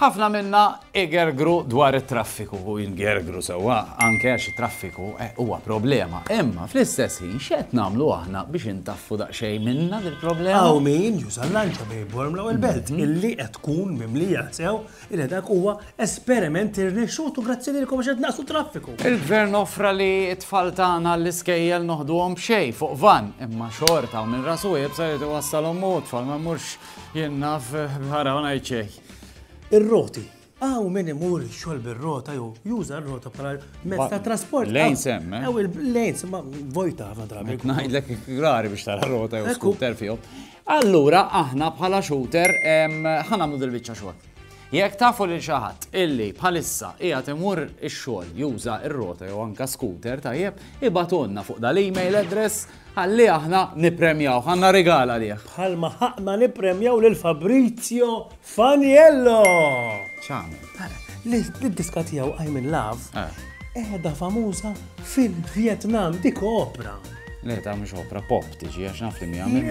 Ħafna minna igergru dwar it-traffiku, u ngergru sewwa anke għax it-traffiku huwa problema. Imma fl-istess ħin x'qed nagħmlu aħna biex intaffu daqsxejn minnha dil-problema? Hawn min juża l-lanċa bejn il-Bormla u l-Belt, illi qed tkun mimlija sew illi dak huwa esperiment irnexxut u grazzi lilkom għax qed tnaqqsu t-traffiku. Il-Gvern offra li t-tfal tagħna għall-iskejjel noħduhom b'xejn, fuq vann, imma xorta hawn min rasu iebsa jrid iwassalhom hu, t-tfal ma jmurx Jien naf bħara u ngħid xejn. Ir-roti. Aw min imur xogħol bir-rota jew juża r-rota bħala mezz ta' trasport. Lejn sem, eh? Aw il-lejn sem vojta ħafna drabi. Ngħidlek rari biex tara rota jew skuter fihom. Allura aħna bħala shooter ħanamlu dil-biċċa xogħol. Jekk tafu lil xi ħadd illi bħalissa qiegħed imur ix-xogħol juża r-rota jew anka scooter tajjeb, ibatonna fuq dal-email address Ħalli aħna nippremjawh, għandna rigal għalih. Bħalma ħaqna nippremjaw lil Fabrizio Faniello! X'għamel? L-diska tiegħu I'm in Love eh. qiegħda famuża fil-Vjetnam dik opra. Le, ta' mhux opra pop tiġi għax naf li mi għamil.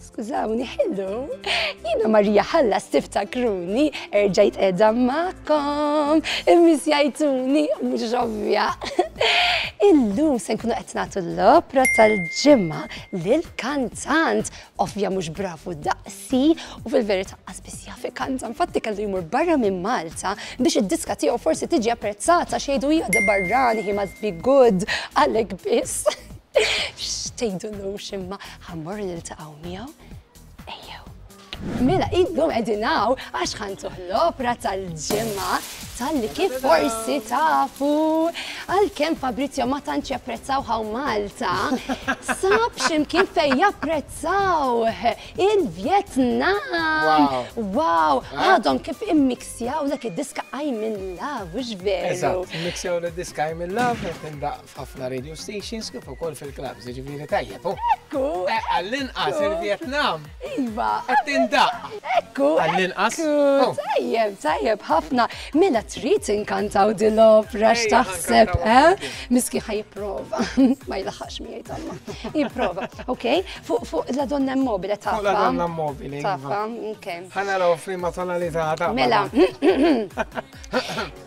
Skużawni, hello. Jina Marija Ħalla stifta kruni, erġajt edha ma'kom, immisjajtuni, mux ovvja. Illum se nkunu qed nagħtu l-opra tal-ġimma lil kantant ovvja mhux bravu daqsi u fil-verità qasbis jaf kantan fatti kellu jmur barra minn Malta biex id-diska tiegħu forsi tiġi apprezzata xejdu hija barrani hi must be good għalhekk biss. X'tgħidulux imma ħa mmorru niltaqgħu miegħu? Ejjew. Mela illum qegħdin hawn għax ħa ntuh l-opra tal-ġimgħa tal-li kif forsi tafu għalkemm Fabrizio ma tantx japprezzaw ħaw Malta, sab x'imkien fejn japprezzaw il-Vjetnam. Wow, għadhom kif immiksjaw dak id-diska I'm in love, mhux veru? Eżatt, immiksjaw l-diska I'm in love, qed indaq ħafna radio stations kif ukoll fil-klabs, ġifieri tajjeb. Ekku! Eh, għall-inqas il-Vjetnam. Iva. Qed tindaq. Ekku. Għall-inqas. Oh. Tajjeb, tajjeb ħafna. Mela trid inkantaw din l-opra x'taħseb, eh? Miski ħaj jipprova. Ma jilaħħax miegħi tamma. Jipprova. Ok, fuq la donna mobile taffa. Fuq la donna mobile. Taffa, ok. Ħana raw flima tonalità ta' Mela.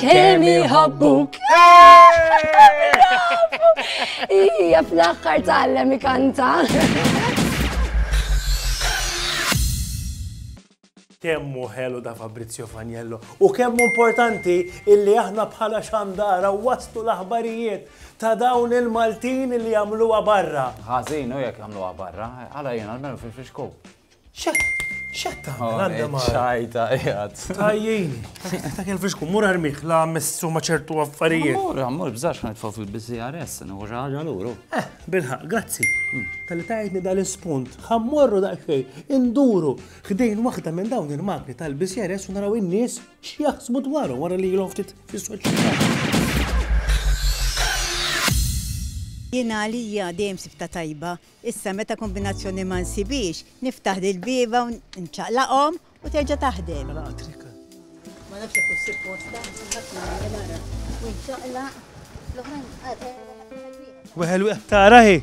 Kemm iħobbuk. Ija fl-aħħar tgħallem ikanta. kemmu ħelu da Fabrizio Faniello u kemmu importanti illi aħna bħala xandara wastu l-aħbarijiet ta' dawn il-Maltin li jagħmluha barra. Ħażin u jekk jagħmluha barra, għala jien għalmenu fil-fixku. Xetta, għanda ma. ċajta, jgħad. Tajjin, ta' kien fixku, mur armiħ, la messu ma ċertu affarijiet. Mur, mur, bżax ma jitfaw fil-BCRS, nħu ġaġa l-uru. Eh, bilħaq, grazzi. Hmm. Tal-li tajtni dal-spunt, ħammorru daqxej, induru, ħdejn waħda minn dawn il-magni tal-BCRS u naraw in-nies x'jaħsbu dwaru wara li jilhom ftit fis-soċjetà. Jien għalija dejjem sibta tajba Issa meta kombinazzjoni ma nsibhiex, niftaħ l-ilbieba u nċaqlaqhom u terġa' taħdem. Ma nafx jekk hux supposta, ħadd ma jagħmel ara. U nċaqlaq, l-oħrajn għad wieħed. Weħel wieħed tara hi.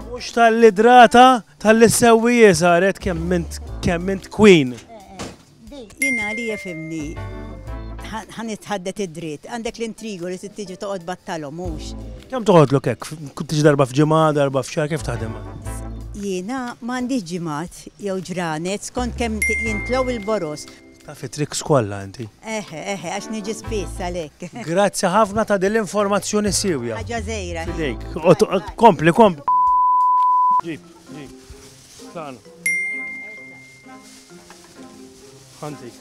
Mhux tal-idrata tal-li ssewwi hi saret kemm int queen. Jien għalija ifhimni. Ħa nitħaddet id-dritt. Għandek l-intrigu li trid tiġi toqgħod battalhom, mhux? Kemm toqgħodlok hekk? Tiġi darba f'ġimgħa, darba f'xahar, kif taħdem għandek? Jiena ma għandix ġimgħat jew ġranet, skont kemm jintlgħu il-boroż. Taf it-tricks kollha inti. Eħe, eħe, għax niġi spiss għalhekk. Grazzi ħafna ta' din l-informazzjoni siewja. Ħaġa żgħira. F'idejk. Kompli, kompli. Ġib, ġib. Tlaqna. Ħantik.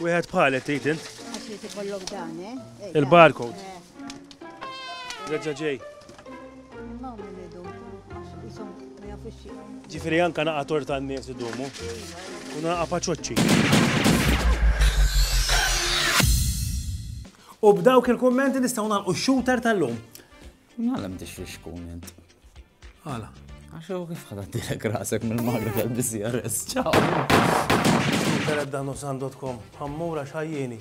Wieħed bħalet tgħid int. Għax li tikollok dan, eh? eh Il-barcode. Eh. Reġa' ġej. Ġifieri anka naqa' torta n-nies idumu. U naqa' paċoċċi. U b'dawk il-kummenti nistgħu nagħlqu x-shooter tal-lum. Għala mdix li xkun int? Għala. Għax u kif ħadad dilek rasek mill-magri tal-BCRS, ċaw. Internet dan u sandotkom, għammura xajjeni.